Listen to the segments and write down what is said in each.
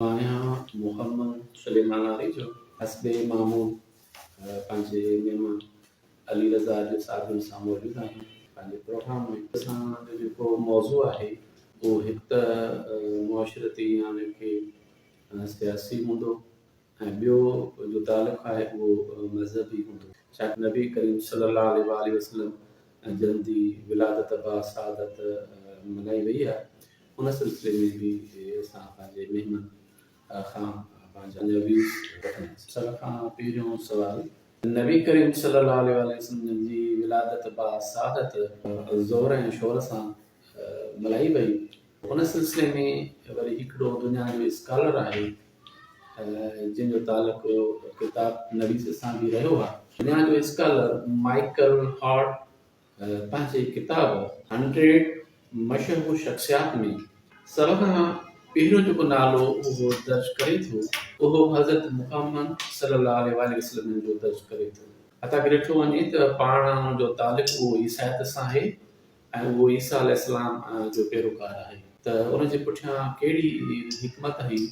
ماهيان محمد سليمان آريجو حسب معمول پنهنجي مهمان علي رضا آريجو صاحب جن سان موجود آهيون پنهنجي پروگرام ۾ اسان جو جيڪو موضوع آهي اهو هڪ ته معاشرتي يعني ڪي سياسي هوندو ۽ ٻيو جو تعلق آهي اهو مذهبي هوندو ڇاڪ نبي ڪريم صلي الله عليه واٰله وسلم جن جي ولادت با سعادت ملهائي وئي آهي ان سلسلي ۾ به اسان پنهنجي مهمن کان پنهنجا ويوز وٺنداسين. سڀ کان پهريون سوال نبي ڪريم صلي الله عليه واٰله وسلم جي ولادت با سعادت زور ۽ شور سان ملهائي وئي. ان سلسلي ۾ وري هڪڙو دنيا جو اسڪالر آهي جنهن جو تعلق ڪتاب نويس سان به رهيو آهي. دنيا جو اسڪالر مائيڪل هارٽ پنهنجي ڪتاب هنڊريڊ مشهور شخصيات ۾ سڀ کان پهريون جيڪو نالو اهو درج ڪري ٿو اهو حضرت محمد صلي الله عليه واٰله وسلم جو درج ڪري ٿو. حتيٰ ڪه ڏٺو وڃي ته پاڻ جو تعلق اهو عيسائيت سان آهي ۽ اهو عيسيٰ عليه السلام جو پيروڪار آهي ته ان جي پٺيان ڪهڙي حڪمت ۽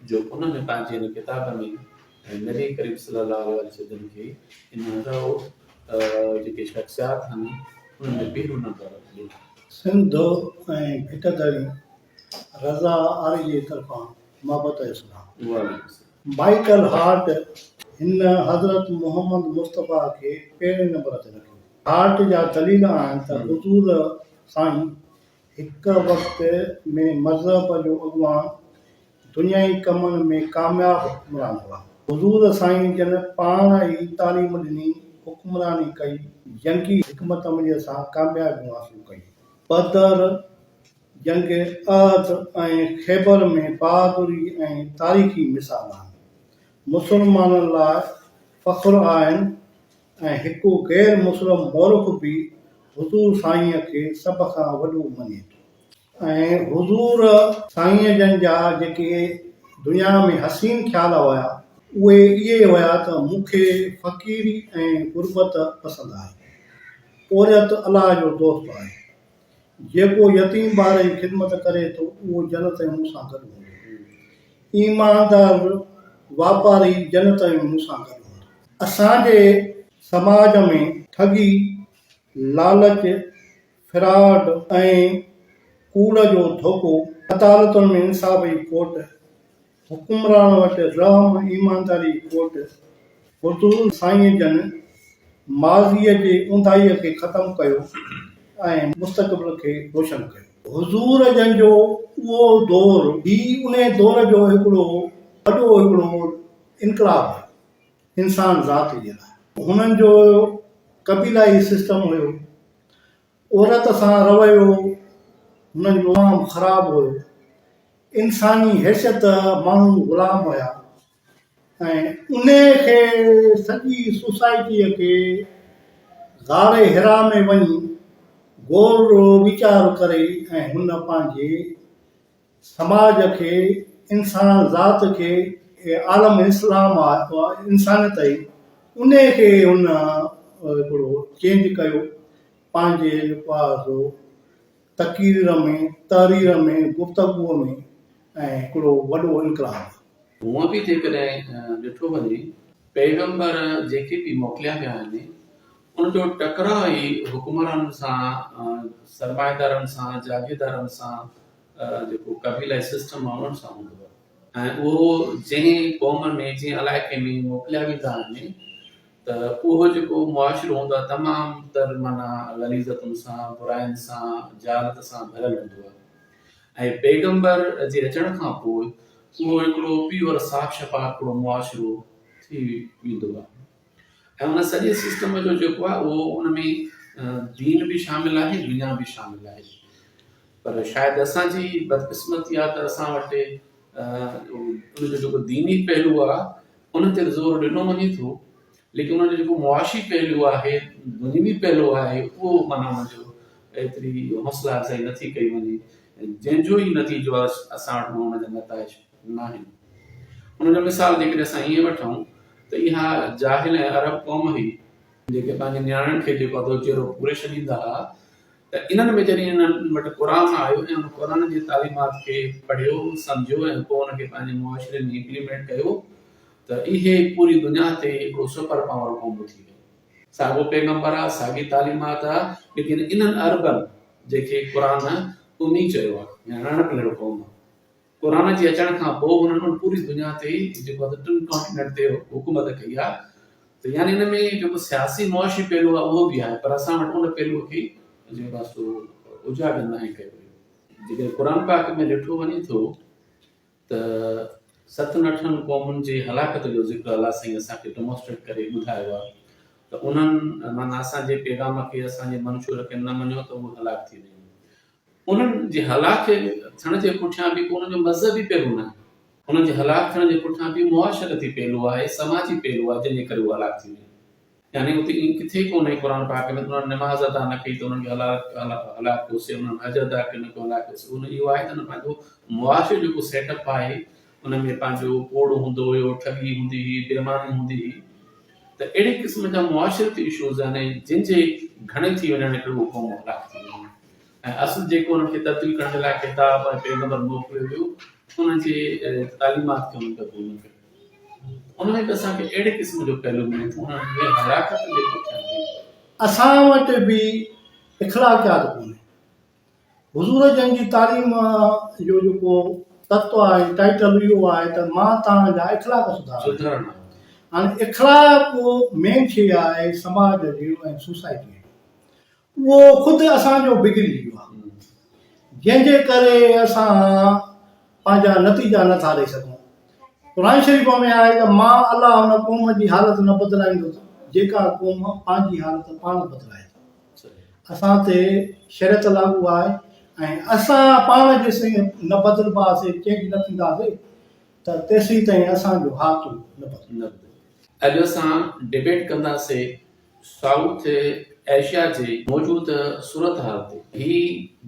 جو انهن ۾ پنهنجي هن ڪتاب ۾ نبي ڪريم صلي الله عليه وسلم کي ان هنڌ او جيڪي شخصيات هن انهن ۾ پهريون نمبر ڏنو. سنڌ ۽ ڀٽ دري رضا آري جي طرفان محبت اسلام. وعليڪم السلام. مائيڪل هارٽ هن حضرت محمد مصطفيٰ کي پهرين نمبر تي رکيو. هارٽ جا دليل آهن ته حضور سائين هڪ وقت ۾ مذهب جو اڳواڻ، دنيائي ڪمن ۾ ڪامياب حڪمران هئا. حضور سائين جن پاڻ ئي تعليم ڏني، حڪمراني ڪئي، جنگي حڪمت عمليء سان ڪاميابيون حاصل ڪيون. بدر، جنگ احد ۽ خيبر ۾ بهادري ۽ تاريخي مثال آهن. مسلمانن لاء فخر آهن. ۽ هڪ غير مسلم مورخ به حضور سائينء کي سڀ کان وڏو مڃي ٿو ۽ حضور سائينء جن جا جيڪي دنيا ۾ حسين خيال هيا اهي اهي هيا ته مون کي فقيري ۽ غربت پسند آهي پورهيت الله جو دوست آهي جيڪو يتيم ٻار جي خدمت ڪري ٿو، اهو جنت ۾ مون سان گڏ هوندو. ايماندار واپاري جنت ۾ مون سان گڏ هوندو. اسان جي سماج ۾ ٺڳي، لالچ، فراڊ ۽ ڪوڙ جو ڌوڪو، عدالتن ۾ انصاف جي کوٽ، حڪمران وٽ رحم ايمانداري کوٽ حضور سائين جن ماضيء جي اونداهيء کي ختم ڪيو ۽ مستقبل کي روشن ڪيو. حضور جن جو اهو دور ئي انهي دور جو هڪڙو وڏو هڪڙو انقلاب هيو انسان ذات جي لاء. هنن جو قبيلائي سسٽم هيو عورت سان رويو هنن جو تمام خراب هيو. انساني حيثيت ماڻهو غلام هيا ۽ انهي کي سڄي سوسائٽيء کي غار حرا ۾ وڃي غور و ويچار ڪري ۽ هن پنهنجي سماج کي، انسان ذات کي ۽ عالم اسلام انسانيت آهي انهي کي هن هڪڙو چينج ڪيو پنهنجي پاسو تقرير ۾ تحرير ۾ گفتگو ۾ ۽ هڪڙو وڏو انقلاب. هونء به جيڪڏهن ڏٺو وڃي پيغمبر جيڪي به موڪليا ويا آهن ان جو ٽڪراء ئي حڪمرانن سان، سرمائيدارن سان، جاگيردارن سان جيڪو قبيلائي سسٽم آهي ان سان هوندو آهي ۽ اهو جنهن قوم ۾ جنهن علائقي ۾ موڪليا ويندا آهن ته اهو جيڪو معاشرو هوندو آهي تمام تر معنيٰ غليظتن سان براين سان جهالت سان ڀريل هوندو آهي ۽ پيغمبر جي اچڻ کان پوء اهو هڪڙو پيور صاف شفاف هڪڙو معاشرو ٿي ويندو آهي ۽ ان سڄي سسٽم جو جيڪو آهي اهو ان ۾ دين به شامل آهي دنيا به شامل آهي پر شايد اسان جي بدقسمتي آهي ته اسان وٽ ان جو جيڪو ديني پهلو آهي ان تي زور ڏنو وڃي ٿو ليڪن ان جو جيڪو معاشي پهلو آهي دنيوي پهلو آهي اهو مانا ان جو ايتري حوصلا افزائي نٿي ڪئي وڃي جنهن جو ئي نتيجو اسان وٽ ان جا نتائج ناهن. ان جو مثال جيڪڏهن اسان ائين وٺون ته اها جاهل ۽ عرب قوم هئي، جيڪي پنهنجي نياڻين کي جيڪو اڌو چيرو پوري ڇڏيندا ها ته انهن ۾ جڏهن انهن وٽ قرآن آيو ۽ ان قرآن جي تعليمات کي پڙهيو، سمجهيو ۽ پوء ان کي پنهنجي معاشري ۾ امپليمينٽ ڪيو ته اهي پوري دنيا تي هڪڙو سپر پاور قوم ٿي ويو. ساڳيو پيغمبر آ، ساڳي تعليمات آ، ليڪن انهن عربن جيڪي قرآن امي چيو آ، يعني اڻ پڙهيل قوم. قرآن جي اچڻ کان پوء هنن ان پوري دنيا تي جيڪو آهي ٽن ڪانٽيننٽ تي حڪومت ڪئي آهي ته يعني ان ۾ جيڪو سياسي معاشي پهلو آهي اهو به آهي پر اسان وٽ ان پهلو کي جيڪو آهي سو اجاگر ناهي ڪيو ويو جيڪڏهن قرآن پاڪ ۾ ڏٺو وڃي ٿو ته ستن اٺن قومن جي هلاڪت جو ذڪر الله سائين اسان کي ڊمونسٽريٽ ڪري ٻڌايو آهي ته انهن معنيٰ اسان جي پيغام کي اسان جي منشور کي نه مڃيو ته اهي هلاڪ ٿي ويو انهن جي هلاڪ ٿيڻ جي پٺيان به ڪو انهن جو مذهبي پهلو ناهي. انهن جي هلاڪ ٿيڻ جي پٺيان به معاشرتي پهلو آهي، سماجي پهلو آهي، جنهن جي ڪري هو هلاڪ ٿي ويا. يعني اتي ائين ڪٿي ئي ڪونهي قرآن پاڪ ۾ ته انهن نماز ادا نه ڪئي ته انهن کي هلاڪ ڪيوسين، انهن حج ادا ڪئي انهن کي هلاڪ ڪيوسين. اهو آهي ته انهن پنهنجو معاشري جو جيڪو سيٽ اپ آهي، ان ۾ پنهنجو ڪوڙ هوندو هيو، ٺڳي هوندي هئي، بيماني هوندي هئي ته اهڙي قسم جا معاشرتي اشوز يعني جن جي گهڻي ٿي وڃڻ هڪڙي اهو قوم هلاڪ ٿي وڃي ۽ اصل جيڪو انهن کي تبديل ڪرڻ جي لاء خطاب ۽ پيغمبر موڪليو ويو انهن جي تعليمات کي انهن قبول نه ڪيو ان ۾ به اسان کي اهڙي قسم جو پهلو ملي ٿو انهن جي هلاڪت جي پٺيان اسان وٽ به اخلاقيات ڪونهي حضور جن جي تعليم جو جيڪو تتو آهي ٽائيٽل اهو آهي ته مان توهان جا اخلاق سڌارڻ آهيان هاڻي اخلاق مين شيء آهي سماج جي ۽ سوسائٽي جي اهو خود اسان جو بگڙي ويو آهي جنهن جي ڪري اسان پنهنجا نتيجا نٿا ڏئي سگهون قرآن شريف ۾ آهي ته مان الله ان قوم جي حالت نه بدلائيندس جيڪا قوم پنهنجي حالت پاڻ بدلائي اسان تي شريعت لاڳو آهي ۽ اسان پاڻ جيسين نه بدلباسين، چينج نه ٿينداسين، ته تيسين تائين اسان جو هاتو نه بدلبو. اڄ اسان ڊبيٽ ڪنداسي سائوٿ ايشيا جي موجود صورتحال تي. هي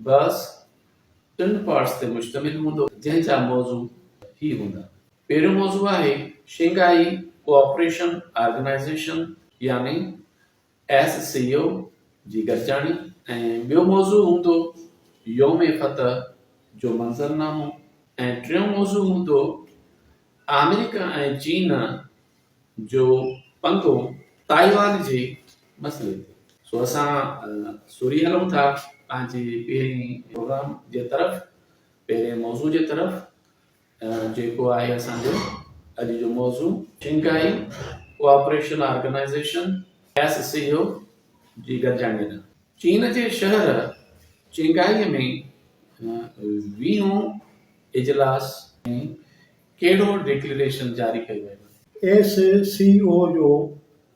بحث ٽن پارٽس تي مشتمل هوندو جنهن جا موضوع هي هوندا. پهريون موضوع آهي شنگهائي ڪوآپريشن آرگنائيزيشن يعني ايس سي او جي گڏجاڻي ۽ ٻيو موضوع هوندو يوم فتح جو منظرنامو ۽ ٽيون موضوع هوندو آمريڪا ۽ چين جو پنگو تائيوان جي مسئلي تي. سو اسان سوري هلون ٿا پنهنجي پهرين پروگرام جي طرف، پهرين موضوع جي طرف. جيڪو آهي اسان جو اڄ جو موضوع. Shanghai Cooperation Organization, S C O, جي گڏجاڻيء ڏانهن. چين جي شهر چينگهائي ۾ ويهون اجلاس ۾ ڪهڙو ڊڪلريشن جاري ڪيو ويو آهي؟ ايس سي او جو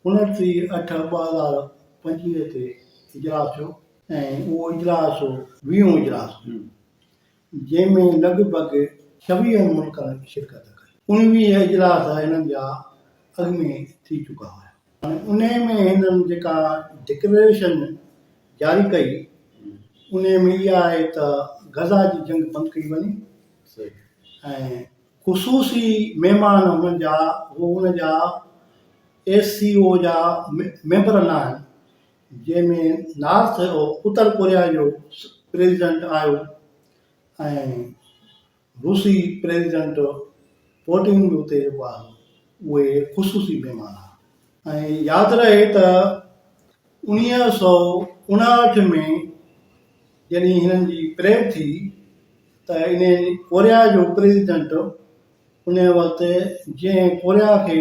انٽيهه اٺ ٻه هزار پنجويهه تي اجلاس ٿيو ۽ اهو اجلاس ويهون اجلاس جنهن ۾ لڳ ڀڳ ڇويهن ملڪن شرڪت ڪئي. اڻويهه اجلاس هنن جا اڳ ۾ ٿي چڪا هيا. انهي ۾ هنن جيڪا ڊڪليريشن جاري ڪئي انهي ۾ اها آهي ته غزه جي جنگ بند ڪئي وڃي ۽ خصوصي مهمان هنن جا هو ان جا ايس سي او جا ميمبر ناهن جنهن ۾ نارٿ اتر ڪوريا جو پريزيڊنٽ آيو ۽ روسي پريزيڊنٽ پوٽين به اتي جيڪو آيو اهي خصوصي مهمان ها ۽ ياد رهي ته انويهه سؤ اڻاهٺ ۾ جڏهن هنن جي پريڊ ٿي ته انهي ڪوريا جو پريزيڊنٽ انهي وقت جنهن ڪوريا کي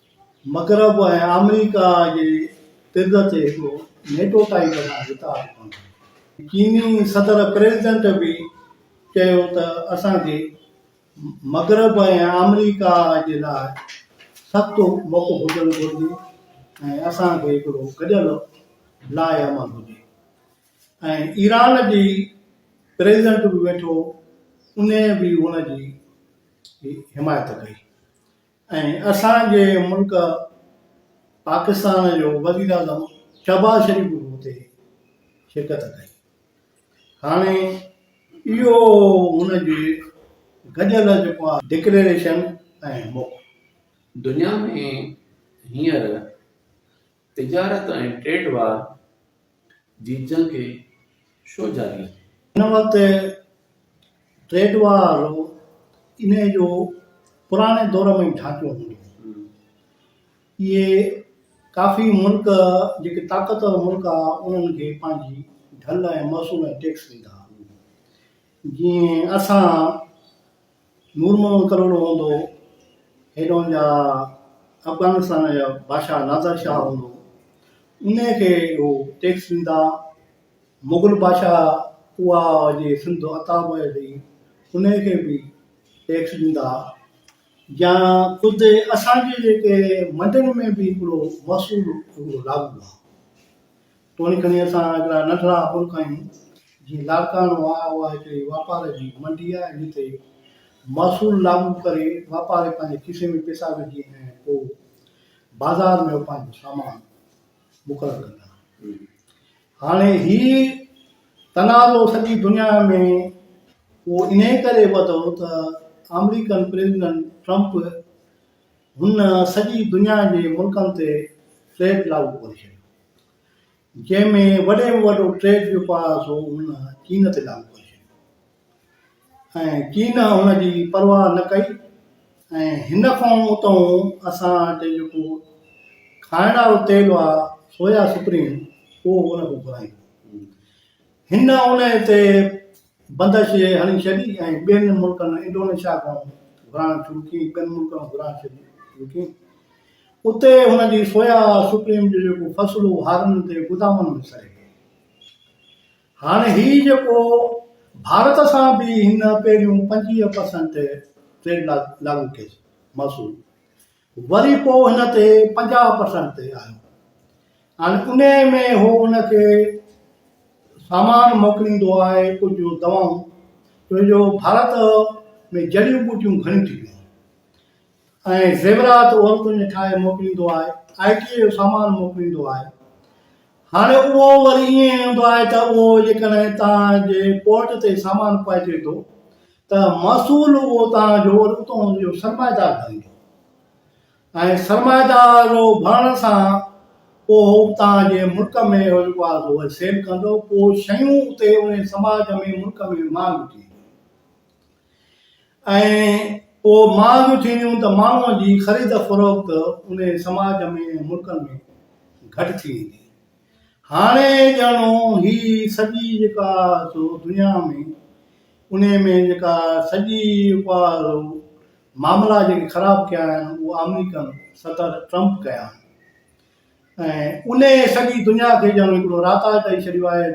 مغرب ۽ آمريڪا جي طرز تي هڪڙو نيٽو ٽائيپ سان اتحاد بڻايو. چيني صدر پريزيڊنٽ به چيو ته اسان کي مغرب ۽ آمريڪا جي لاء سخت موقعو هجڻ گهرجي ۽ اسان کي هڪڙو گڏيل لائحه عمل هجي ۽ ايران جي پريزيڊنٽ به ويٺو انهيء به ان جي حمايت ڪئي. ۽ اسان جي ملڪ پاڪستان جو وزيراعظم شهباز شريف به اتي شرڪت ڪئي. هاڻي اهو هن جي گڏيل جيڪو آهي ڊڪليريشن ۽ موقعو. دنيا ۾ هينئر تجارت ۽ ٽريڊ وار جي جنگ ڇو جاري آهي؟ هن وقت ٽريڊ وار انهيء جو پراڻي دور ۾ ئي ڍانچو هوندو هو. اهي ڪافي ملڪ جيڪي طاقتور ملڪ ها انهن کي پنهنجي ڍل ۽ محصول ۽ ٽيڪس ڏيندا ها. جيئن اسان نور محمد ڪلهوڙو هوندو، هيڏهن جا افغانستان جا بادشاهه نادر شاهه هوندو، انهيء کي اهو ٽيڪس ڏيندا. مغل بادشاهه اها جي سنڌ عطا هئي سي، انهيء کي به ٽيڪس ڏيندا. يا خود اسان جي جيڪي منڊن ۾ به هڪڙو محصول هڪڙو لاڳو آهي. توڻي کڻي اسان هڪڙا ننڍڙا ملڪ آهيون، جيئن لاڙڪاڻو آهي، اها هڪڙي واپار جي منڊي آهي، جتي محصول لاڳو ڪري واپاري پنهنجي کيسي ۾ پئسا وجهي ۽ پوء بازار ۾ پنهنجو سامان مقرر ڪندا آهن. هاڻي هي تنازعو سڄي دنيا ۾ اهو انهي ڪري وڌو ته آمريڪن پريزيڊنٽ ٽرمپ هن سڄي دنيا جي ملڪن تي ٽريڊ لاڳو ڪري ڇڏيو، جنهن ۾ وڏي ۾ وڏو ٽريڊ جو پاڙ سو هن چين تي لاڳو ڪري ڇڏيو ۽ چين هن جي پرواهه نه ڪئي ۽ هن کان اتئون اسان وٽ جيڪو کائڻ وارو تيل آهي سويا سپريم اهو هن کان گهرائيون هن انهي تي بندر شيء هڻي ڇڏي ۽ ٻين ملڪن انڊونيشيا کان گهرائڻ شروع ڪئي ۽ ٻين ملڪن کان گهرائڻ شروع ڪئي. اتي هن جي سويا سپريم جو جيڪو فصل هو هارن تي گدامن ۾ سڙي ويو. هاڻي هي جيڪو ڀارت سان به هن پهريون پنجويهه پرسنٽ ٽريڊ لاڳو ڪيس محصول وري پوء هن تي پنجاهه پرسنٽ تي آيو ۽ انهيء ۾ هو هن کي سامان موڪليندو آهي ڪجهه دوائون ڇو جو ڀارت ۾ جڙيون ٻوٽيون گهڻيون ٿي پيون ۽ زيورات عورتن جي ٺاهي موڪليندو آهي آئي ٽي جو سامان موڪليندو آهي هاڻي اهو وري ائين هوندو آهي ته اهو جيڪڏهن تان جي پورٽ تي سامان پهچي ٿو ته محصول اتان جو اتان جو سرمائيدار بڻجو ۽ سرمائيدار بڻڻ سان پوء اتان جي ملڪ ۾ جيڪو آهي سو اهي سيل ڪندو پوء شيون اتي انهي سماج ۾ ملڪ ۾ مهانگيون ٿي وينديون ۽ پوء مهانگيون ٿينديون ته ماڻهوء جي خريد فروخت انهي سماج ۾ ملڪن ۾ گهٽ ٿي ويندي هاڻي ڄاڻو هي سڄي جيڪا سو دنيا ۾ انهي ۾ جيڪا سڄي اها سو معاملا جيڪي خراب ڪيا آهن اهي آمريڪن صدر ٽرمپ ڪيا آهن ۽ انهي سڄي دنيا کي ڄاڻو هڪڙو راتا ڪري ڇڏيو آهي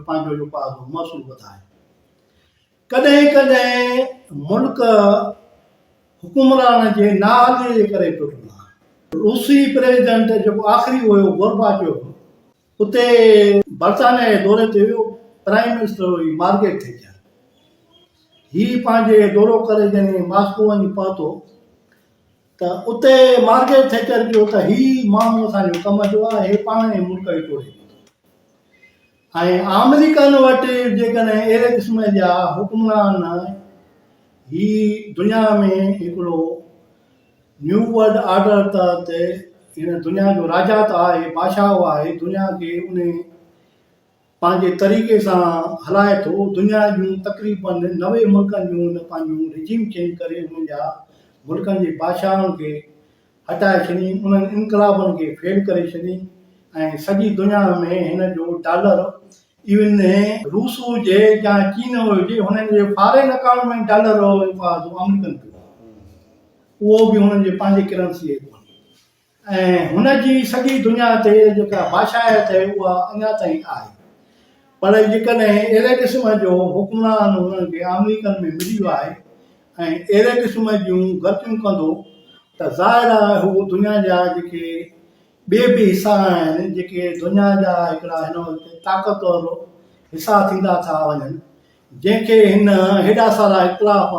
پنهنجو جيڪو آهي سو محصول وڌائي ڪڏهن ڪڏهن ملڪ حڪمران جي نااهلي جي ڪري ٽٽندا آهن. روسي پريزيڊنٽ جيڪو آخري هيو گورباچوف اتي برطانيا جي دوري تي ويو پرائيم منسٽر هئي مارگيٽ ٿيچر هي پنهنجي دورو ڪري جڏهن ماسڪو وڃي پهتو ته اتي مارگيٽ ٿيچر چيو ته هي ماڻهو اسان جو ڪم جو آهي هي پاڻ ۽ ملڪ کي ٽوڙي ڏيندو ۽ آمريڪن وٽ جيڪڏهن اهڙي قسم جا حڪمران هي دنيا ۾ هڪڙو نيو ورلڊ آرڊر تحت هن دنيا جو راجا ته آهي بادشاهه آهي دنيا کي ان پنهنجي طريقي سان هلائي ٿو دنيا جون تقريباً نوي ملڪن جون هن پنهنجون رجيم چينج ڪري انهن جا ملڪن جي بادشاهن کي هٽائي ڇڏين، انهن انقلابن کي فيل ڪري ڇڏين ۽ سڄي دنيا ۾ هن جو ڊالر ايون روس هجي يا چين هجي هنن جي فارين اڪائونٽ ۾ ڊالر رهو اهو فائدو آمريڪن کي پوندو اهو به هنن جي پنهنجي ڪرنسي هي ڪونهي ۽ هن جي سڄي دنيا تي جيڪا بادشاهيت هي اها اڃا تائين آهي پر جيڪڏهن اهڙي قسم جو حڪمران هنن کي آمريڪن ۾ ملي ويو آهي ۽ اهڙي قسم جون غلطيون ڪندو ته ظاهر آهي هو دنيا جا جيڪي ٻي به حصا آهن جيڪي دنيا جا هڪڙا هن وقت طاقتور حصا ٿيندا ٿا وڃن جنهن کي هن هيڏا سارا اختلاف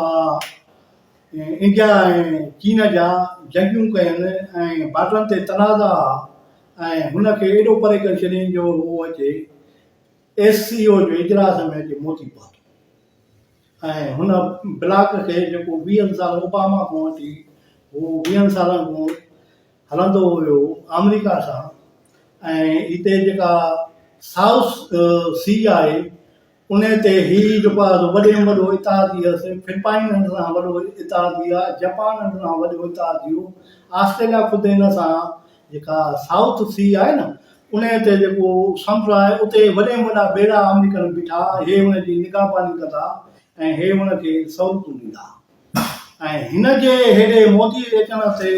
انڊيا ۽ چين جا جنگيون ڪين ۽ بارڊرن تي تنازعا ۽ هن کي ايڏو پري ڪري ڇڏين جو هو اچي ايس سي او جي اجلاس ۾ اچي موتي پاتو. ۽ هن بلاڪ کي جيڪو ويهن سال اوباما کان وٺي هو ويهن سالن کان هلندو هيو آمريڪا سان ۽ هتي جيڪا سائوس سي آهي ان تي هي جيڪو آهي سو وڏي ۾ وڏو اتحادي آهي سي فلپائن هن سان وڏو اتحادي آهي جپان هن سان وڏو اتحادي هو آسٽريليا خود هن سان جيڪا سائوٿ سي آهي نه انهيء تي جيڪو سمنڊ آهي اتي وڏي ۾ وڏا ٻيڙا آمريڪن بيٺا هي ان جي نگهباني ڪندا ۽ هي ان کي سهولتون ڏيندا ۽ هن جي هيڏي موٽي اچڻ تي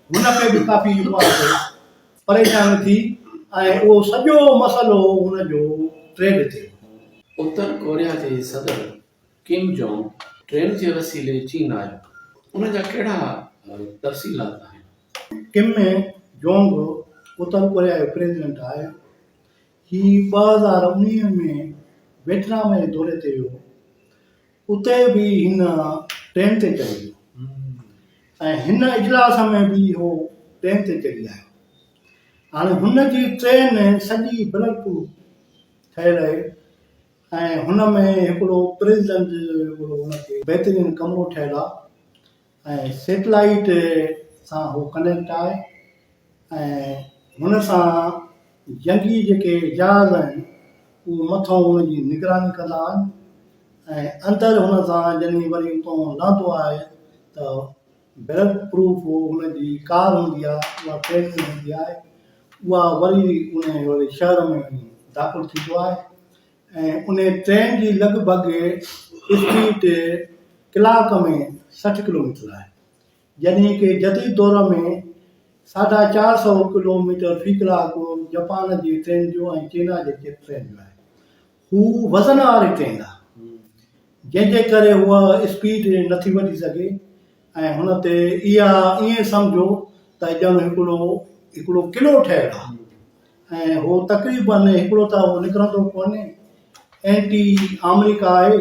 هن کي به ڪافي اها تي پريشاني ٿي ۽ اهو سڄو مسئلو هن جو ٽريڊ تي هو. اتر ڪوريا جي صدر ڪيم جونگ ٽرين جي وسيلي چين آيو، ان جا ڪهڙا تفصيلات آهن؟ ڪيم جونگ اتر ڪوريا جو پريزيڊنٽ آهي. هي ٻه هزار انويهه ۾ ويٽنام جي دوري تي ويو. اتي به هن ٽرين تي چڙهي ويو ۽ هن اجلاس ۾ به هو ٽرين تي چڙهي آيو. هاڻي هن جي ٽرين سڄي بلٽ پروف ٺهيل آهي. ۽ هن ۾ هڪڙو پريزنٽ هڪڙو ان کي بهترين ڪمرو ٺهيل آ ۽ سيٽلائيٽ سان هو ڪنيڪٽ آهي ۽ هن سان جنگي جيڪي جهاز آهن اهي مٿئون هن جي نگراني ڪندا آهن ۽ اندر هن سان جڏهن وري اتئون لهندو آهي ته بلڊ پروف ان جي ڪار هوندي آهي اها ڪهڙي هوندي آهي اها وري انهي واري شهر ۾ داخل ٿيندو آهي ۽ انهي ٽرين جي لڳ ڀڳ اسپيڊ ڪلاڪ ۾ سٺ ڪلوميٽر آهي جڏهن ڪي جديد دور ۾ ساڍا چار سئو ڪلوميٽر في ڪلاڪ جپان جي ٽرين جو ۽ چينا جي ٽرين جو آهي هو وزن واري ٽرين آهي، جنهن جي ڪري هوء اسپيڊ نٿي وٺي سگهي ۽ هن تي اها ائين سمجهو ته ڄڻ هڪڙو هڪڙو قلعو ٺهيل آهي ۽ هو تقريباً هڪڙو ته هو نڪرندو ڪونهي، اينٽي آمريڪا آهي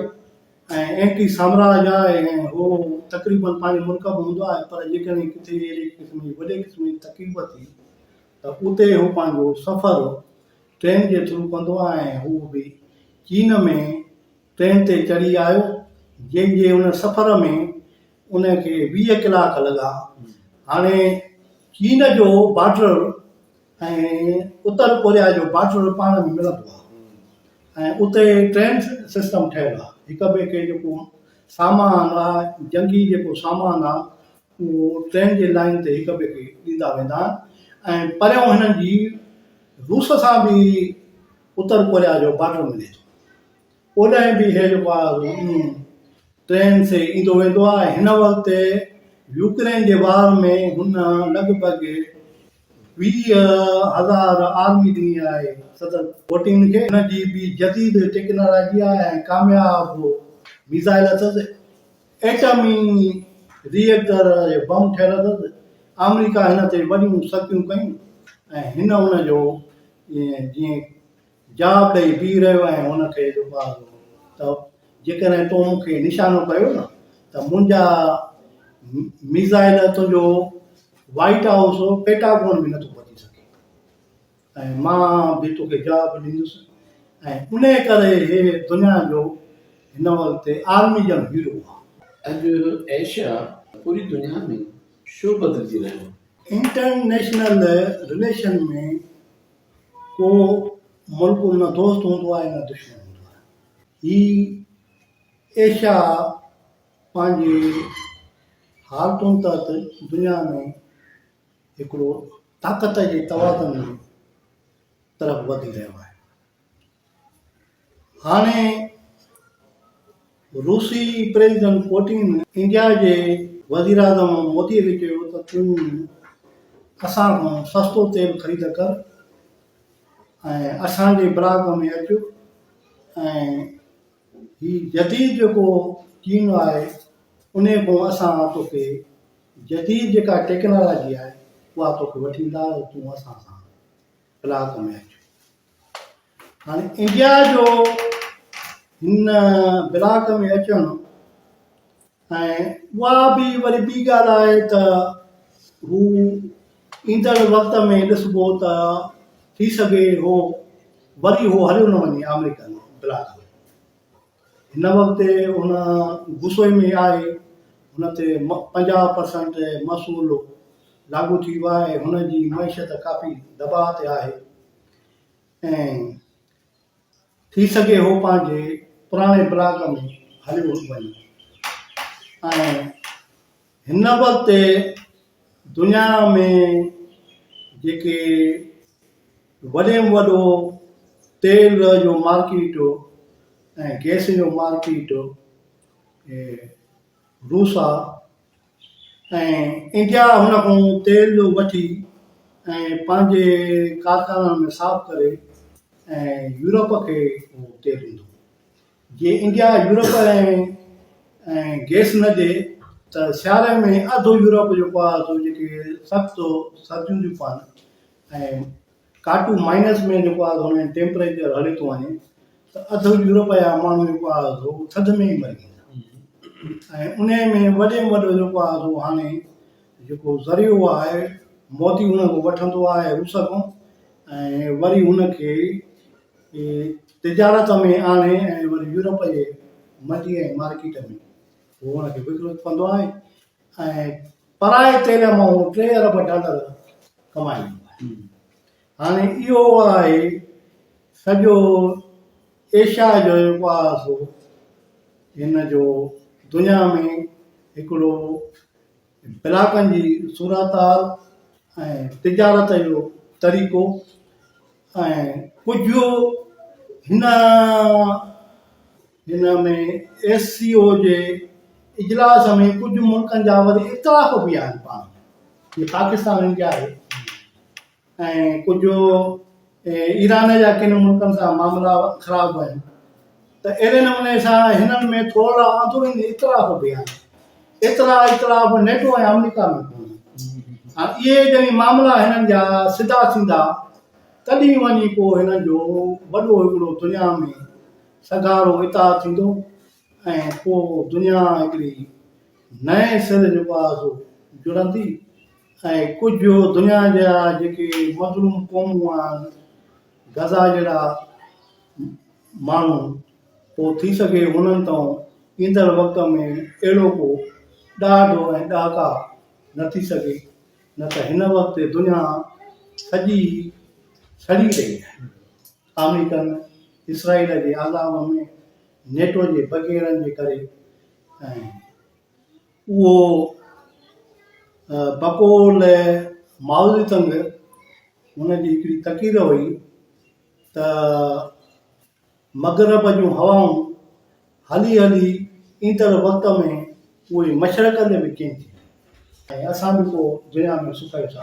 ۽ اينٽي سامراج آهي ۽ هو تقريباً پنهنجي ملڪ ۾ هوندو آهي پر جيڪڏهن ڪٿي اهڙي قسم جي وڏي قسم جي تڪليف ٿي ته اتي هو پنهنجو سفر ٽرين جي ٿرو ڪندو آهيان هو به چين ۾ ٽرين تي چڙهي آيو جنهن جي ان سفر ۾ ان کي ويهه ڪلاڪ لڳا هاڻي چين جو بارڊر ۽ اتر ڪوريا جو بارڊر پاڻ ۾ ملندو آهي ۽ اتي ٽرين سسٽم ٺهيل آهي هڪ ٻئي کي جيڪو سامان آهي جنگي جيڪو سامان آهي هو ٽرين جي لائين تي هڪ ٻئي کي ڏيندا ويندا ۽ پريون هنن جي روس سان به اتر ڪوريا جو بارڊر ملي ٿو. اوڏانهن به هي جيڪو آهي سو ٽرين سي ايندو ويندو آهي ۽ هن وقت يوڪرين جي وار ۾ هن لڳ ڀڳ ويهه هزار آرمي ڏني آهي صدر پوٽين کي. هن جي به جديد ٽيڪنالاجي آهي ۽ ڪامياب ميزائل اٿس. ايٽمي ري ايڪٽر جو بم ٺهيل اٿس، آمريڪا هن تي وڏيون سختيون ڪيون ۽ هن ان جو جيئن جواب ڏئي بيهي رهيو ۽ هن کي ڏڪاريو ته جيڪڏهن تو مون کي نشانو ڪيو نه ته منهنجا ميزائل تنهنجو وائيٽ هائوس پيٽاگون به نٿو پهچي سگهي. ۽ مان به توکي جواب ڏيندس ۽ انهيء ڪري هي دنيا جو هن وقت عالمي ڄڻ هيرو آ. اڄ ايشيا پوري دنيا ۾ ڇو بدلجي رهيو آ؟ انٽرنيشنل رليشن ۾ ڪو ملڪ نه دوست هوندو آهي نه دشمن هوندو آهي. هي ايشيا پنهنجي حالتن تحت دنيا ۾ هڪڙو طاقت جي توازن طرف وڌي رهيو آهي هاڻي روسي پريزيڊنٽ پوٽين انڊيا جي وزير اعظم مودي کي چيو ته تون اسان کان سستو تيل خريد ڪر ۽ اسان جي براگ ۾ اچ ۽ هي جديد جيڪو چين آهي ان کان اسان توکي جديد جيڪا ٽيڪنالاجي آهي اها توکي وٺي ايندا ته تون اسان سان ڪلاڪ ۾ اچ. هاڻي انڊيا جو هن بلاڪ ۾ اچڻ ۽ اها به وري ٻي ڳالهه آهي ته هو ايندڙ وقت ۾ ڏسبو ته ٿي سگهي هو وري هو هليو نه وڃي آمريڪا ۾ بلاڪ ۾ هن وقت هن غصي ۾ آهي، هن تي پنجاهه پرسنٽ محصول لاڳو ٿي ويو آهي، هن جي معيشت ڪافي دٻاء تي آهي ۽ ٿي سگهي هو پنهنجي پراڻي بلاڪ ۾ هليو وڃي ۽ هن وقت دنيا ۾ جيڪي وڏي ۾ وڏو تيل جو مارڪيٽ ۽ گئس جو مارڪيٽ روس آ ۽ انڊيا هن کان تيل وٺي ۽ پنهنجي ڪارخانن ۾ صاف ڪري ۽ يورپ کي تيل ڏيندو جي انڊيا يورپ ۽ گيس نه ڏي ته سياري ۾ اڌ يورپ جيڪو آهي سو جيڪي سخت سرديون ٿيون پون ۽ ڪاٽو مائنس ۾ جيڪو آهي سو ٽيمپريچر هلي ٿو وڃي ته اڌ يورپ جا ماڻهو جيڪو آهي سو ٿڌ ۾ ئي مري ويندا ۽ ان ۾ وڏي ۾ وڏو جيڪو آهي سو هاڻي جيڪو ذريعو آهي موتي هن کان وٺندو آهي روس کان ۽ وري هن کي کي تجارت ۾ آڻي ۽ وري يورپ جي منڊي ۽ مارڪيٽ ۾ هو ان کي وڪڻي پوندو آهي ۽ پرائي تيل مان هو ٽي ارب ڊالر ڪمائيندو آهي. هاڻي اهو آهي سڄو ايشيا جو جيڪو آهي سو هن جو دنيا ۾ هڪڙو علائقن جي صورتحال ۽ تجارت جو طريقو ۽ ڪجهه هن هن ۾ ايس سي او جي اجلاس ۾ ڪجهه ملڪن جا وري اختلاف به آهن پاڻ ۾ جيئن پاڪستان ۽ انڊيا آهي ۽ ڪجهه ايران جا ڪن ملڪن سان معاملا خراب آهن ته اهڙي نموني سان هنن ۾ ٿورڙا اندروني اختلاف به آهن ايترا اختلاف نيٽو ۽ آمريڪا ۾ ڪونهن هاڻ اهي جڏهن معاملا هنن جا سڌا ٿيندا تڏهن وڃي پوء هنن جو وڏو هڪڙو دنيا ۾ سگهارو اتار ٿيندو ۽ پوء دنيا هڪڙي نئين سر جيڪو آهي سو جڙندي ۽ ڪجهه دنيا جا جيڪي مظلوم قومون آهن غزا جهڙا ماڻهو پوء ٿي سگهي انهن تئون ايندڙ وقت ۾ اهڙو ڪو ڏاڍ ۽ ڏهاڪا نه ٿي سگهي نه ته هن وقت دنيا سڄي سڙي رهي آهي آمريڪن اسرائيل جي عذاب ۾ نيٽو جي بگيرن جي ڪري ۽ اهو پڪو لئه ماوزي تنگ هن جي هڪڙي تقرير هئي ته مغرب جون هوائون هلي هلي ايندڙ وقت ۾ اهي مشرق ڏي به ڪين ٿيون ۽ اسان به پوء دنيا ۾ سڪيو ٿا.